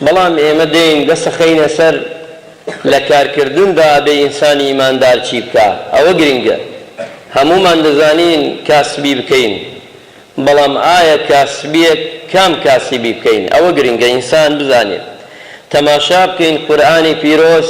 بەڵام ئێمە دێین دەسەخەینە سەر لە کارکردندا ئەبێ ئینسانی ئیماندار چی بکا ئەوە گرنگە هەموومان دەزانین کاسبی بکەین بەڵام ئایا کاسبیەک کام کاسبی بکەین ئەوە گرنگە ئینسان بزانێت تەماشا بکەین قورئانی پیرۆز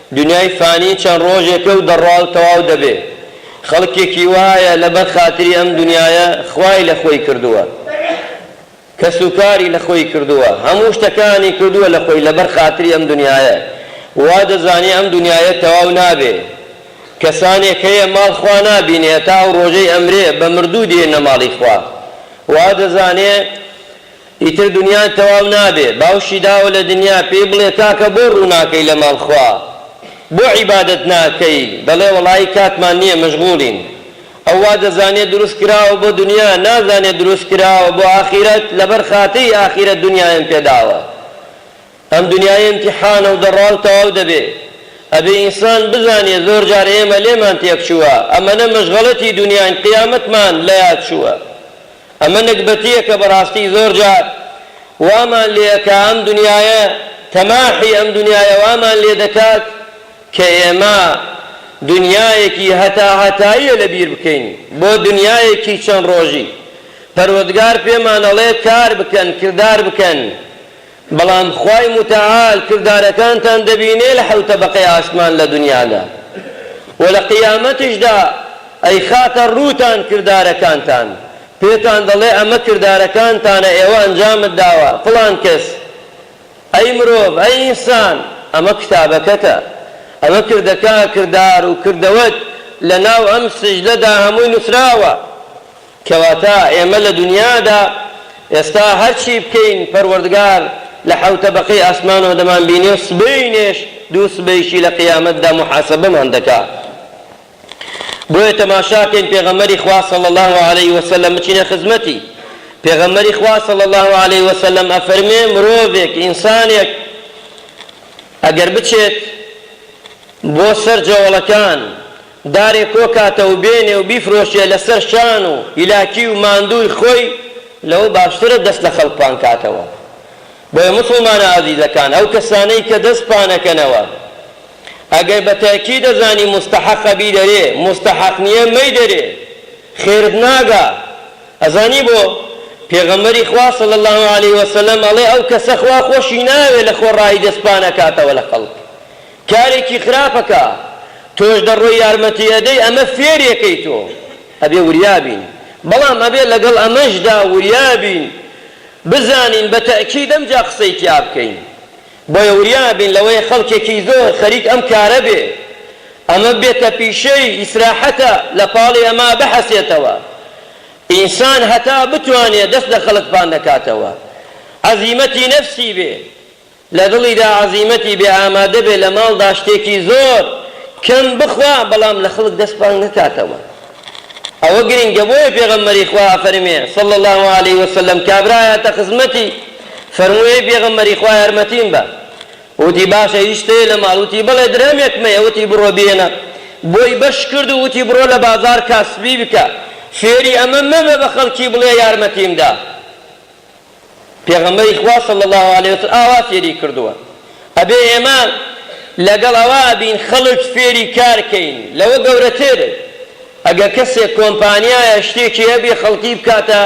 دونیای فانی چەند ڕۆژێکە و دەڕوا و تەواو دەبێ. خەڵکێکی وایە لەبەر خاتری ئەم دونیایە خوای لە خۆی کردووە. کەس و کاری لە خۆی کردووە. هەموو شتەکانی کردووە لە خۆی لەبەر خاتری ئەم دونیایە. وا دەزانێ ئەم دونیایە تەواو نابێ. کەسانێک هەیە ماڵ خوا نابینێ هەتا ئەو ڕۆژەی ئەمرێ بە مردوو دێنە ماڵی خوا. وا دەزانێ. ئیتر دنیات تەواو نابێ. باوشی داوە لە دنیا پێی بڵێ کاکە بۆ ڕووناکەی لە ماڵ خوا؟ بۆ عیبادەت ناکەی؟ دەڵێ وەڵایی کاتمان نییە مەشغوڵین. ئەو وا دەزانێ دروست کراوە بۆ دنیا نازانێ دروست کراوە بۆ ئاخیرەت لەبەر خاتری ئاخیرەت دنیایم پێ داوە. ئەم دنیایە ئیمتیحانە و دەڕا و تەواو دەبێ. ئەبێ ئینسان بزانێ زۆر جار ئێمە لێمان تێکچووە، ئەمەنە مەشغەلەتی دنیاین قیامەتمان لە یاد چووە. ئەمە نەگبەتییەکە بەڕاستی زۆر جار وامان لێ ئەکا ئەم دنیایە، تەماحی ئەم دنیایە وامان لێ دەکات کە ئێمە دنیایەکی هەتا هەتاییە لە بیر بکەین بۆ دنیایەکی چەند ڕۆژی. پەروەدگار پێمان ئەڵێ کار بکەن، کردار بکەن بەڵام خوای موتەعال کردارەکانتان دەبینێ لە حەوت تەبەقەی ئاسمان لە دونیادا و لە قیامەتیشدا ئەیخاتە ڕووتان کردارەکانتان پێتان دەڵێ ئەمە کردارەکانتانە ئێوە ئەنجامت داوە فڵان کەس ئەی مرۆڤ ئەی ئینسان ئەمە کتابەکەتە ئەمە کردەکە کردار و کردەوەت لە ناو ئەم سجلەدا هەمووی نوسراوە کەواتە ئێمە لە دونیادا ئێستا هەرچی بکەین پەروەردگار لە حەوت تەبەقەی ئاسمانەوە دەمانبینێ و سبەینێش دوو سبەیشی لە قیامەتدا موحاسەبەمان دەکا بۆیە تەماشاکەین پێغەمبەری خوا صلی اللە علیە وسلم بچینە خزمەتی پێغەمبەری خوا صلی اللە علیە وسلم ئەفەرمێ مرۆڤێک ئینسانێک ئەگەر بچێت بۆ سەر جەوەڵەکان دارێ کۆکاتە و بێنێ و بیفرۆشێ لە سەر شان و هیلاکی و ماندووی خۆی لەوە باشترە دەست لە خەڵک پان کاتەوە بۆیە موسڵمانە ئازیزەکان ئەو کەسانەی کە دەست پانەکەنەوە ئەگەر بە تەکی دەزانی موستەحەقە بیدەرێ موستەحەق نیە مەیدەرێ خێرت ناگا ئەزانی بۆ پێغەمبەری خوا صلی اللە علیە وسلم ئەڵێ ئەو کەسە خوا خۆشی ناوێ لە خۆڕایی دەست پانەکاتەوە لە خەڵک کارێکی خراپە کە تۆش دەڕۆی یارمەتی ئەدەی ئەمە فێرێکەی تۆ ئەبێ وریا بین بەڵام ئەبێ لەگەڵ ئەمەشدا وریا بین بزانین بە تەئکید ئەمجا قسەی تیا بکەین بۆیە وریا بین لەوەی خەڵکێکی زۆر خەریک ئەم کارە بێ ئەمە ببێتە پیشەی ئیسراحەتە لە پاڵی ئەمە بحەسێتەوە ئینسان هەتا بتوانێ دەست لە خەڵک پان نەکاتەوە عەزیمەتی نەفسی بێ لە دڵیدا عەزیمەتی بێ ئامادە بێ لە ماڵدا شتێکی زۆر کەم بخوا بەڵام لە خەڵک دەست پاک نەکاتەوە ئەوە گرینگە بۆیە پێغەمبەری خوا ئەفەرمێ صلی اللە علیە وسلم کابرا ئەیاتە خزمەتی فەرمووی ئەی پێغەمبەری خوا یارمەتیم بە وتی باشە هیچ شتەیە لە ماڵ وتی بەڵێ درهەمێکم هەیە وتی بڕۆ بێنە بۆی بەش کرد و وتی بڕۆ لە بازار کاسبی بکە فێری ئەمە مەبە بە خەڵکی بڵێ یارمەتیم دا پێغەمبەری خوا صلی اللە علیە وسلم ئاوا فێری کردووە ئەبێ ئێمە لەگەڵ ئەوە بین خەڵک فێری کار کەین لەوە گەورەتر ئەگەر کەسێک کۆمپانیایە شتێکی هەبێ خەڵکی بکاتە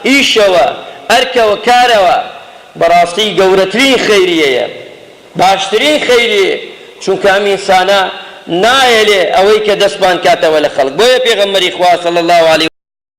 ئیشەوە ئەرکەوە کارەوە بەڕاستی گەورەترین خەیریەیە باشترین خەیریە چونکە ئەم ئینسانە نایەلێ ئەوەی کە دەستمان کاتەوە لە خەڵک بۆیە پێغەمبەری خوا صلی اللە علیە